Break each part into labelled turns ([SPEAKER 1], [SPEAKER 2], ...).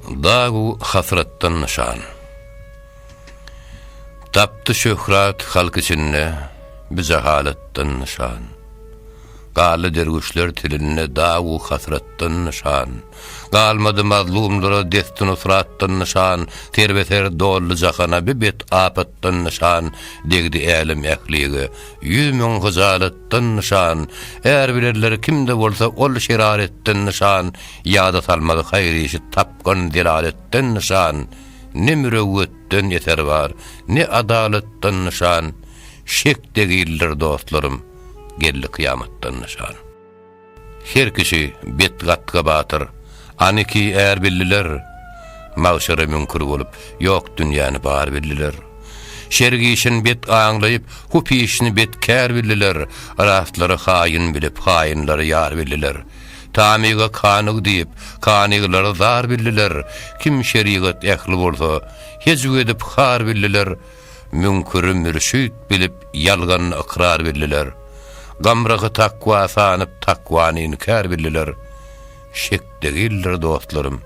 [SPEAKER 1] Dagu hasratdan nyşan. Tapdy şöhrat halk içinde, bi jahalatdan nyşan. Galdy derwüşler tilinde dagu hasratdan nyşan. Galmady mazlumlara desti-nusratdan nyşan, serbeser doldy jahana bi bet apatdan nyşan, degdi älem ählige ýüz müň hyjalatdan nyşan. Är bilerler kimde bolsa ol şeraretden nyşan, Ýada salmaz haýyr-işi tapgan delaletden nyşan, Ne mürewwetden eser bar, ne adalatdan nyşan, Şek degildir dostlarym, geldi kyýamatdan nyşan. Her kişi bet gatga batyr, aniki är bildiler, Magşere müňkür bolup, ýok dünýäni bar bildiler. Şer işin bet aňlaýyp, hupyşyny bet kär bildiler, Rastlary haýyn bilip, haýynlary ýar bildiler. Tamyga kanyg diýip, kanyglary zar bildiler, kim şerigat ähli bolsa, hejw edip har bildiler, müňküri mürşit bilip, ýalganyny ykrar bildiler, gamrahy takwa sanyp, takwany inkär bildiler. Şek degildir, dostlarym!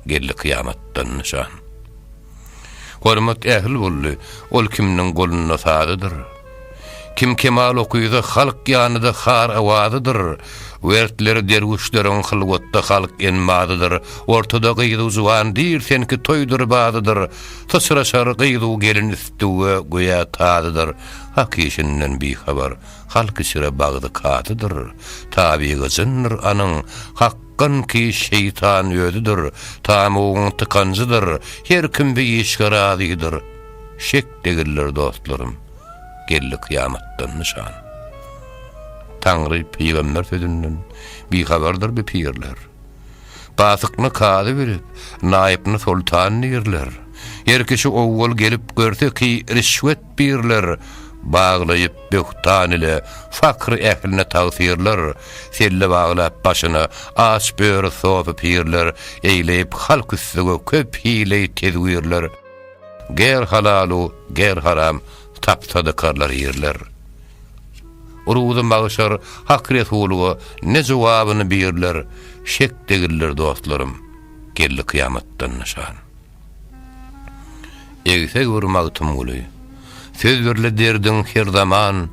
[SPEAKER 1] Geldi kyýamatdan nyşan. Hormat ähli boldy, ol kimniň golunda sazydyr. Kim kemal okyza halk ýanyda har awazydyr. Wertleri derwüşleriň hylwatda halk enmazydyr. Ortada gyz-u juwan dir senki toýdur bazydyr. Syçraşar gyz-u gelin üstüge göýä tazydyr. Hak işinden bihabar, halk içre bagzy kazydyr. Tabygy jyndyr anyň, hak. Gynky şeýtan özüdir, Tamygyň tykanjydyr, Her kim bi işge razydyr, Şek degildir dostlarym, Geldi kyýamatdan nyşan. Taňry pygamber sözünden, Bihabardyr bi pirler. Gasykyny kazy bilip, Naýypny soltan dirler. Her kişi owwal gelip görse ki, Rişwet Birler, Baglaýyp böhtan ile fakr ähline tagsyrlar, Selle baglap başyna aç böri sofy pirler, Eýleýip halk üstüge köp hileý tedwirler, Ger halalu ger haram tapsa dykarlar ýerler. Ruzy magşar Hak Resulyga ne jogabyny birler, Şek degildir dostlarym, geldi kyýamatdan nyşan. Egseg bir Magtymguly, söz birli derdiň her zaman,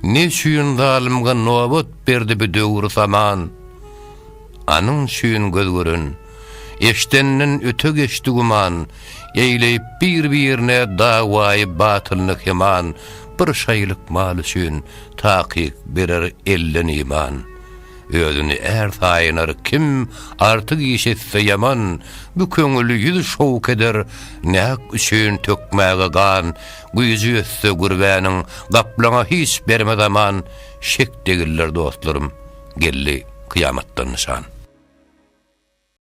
[SPEAKER 1] Ne üçin zalymga nobat berdi bu döwür saman? Anyň üçin göz gören, eşdenden öte geçdi güman, Eýleýip bir-birine dawaýy batylyny keman, Bir şaýylyk mal üçin, takyk berer elden iman. Özüni är saýynar kim, artyk iş etse ýaman, Bu köňül ýüz şowk eder, näk üçin tökmäge gan, Güýji ýetse gürbäniň, gaplaňa hiç bermez aman, Şek degiller dostlarym, geldi kyýamatdan nyşan.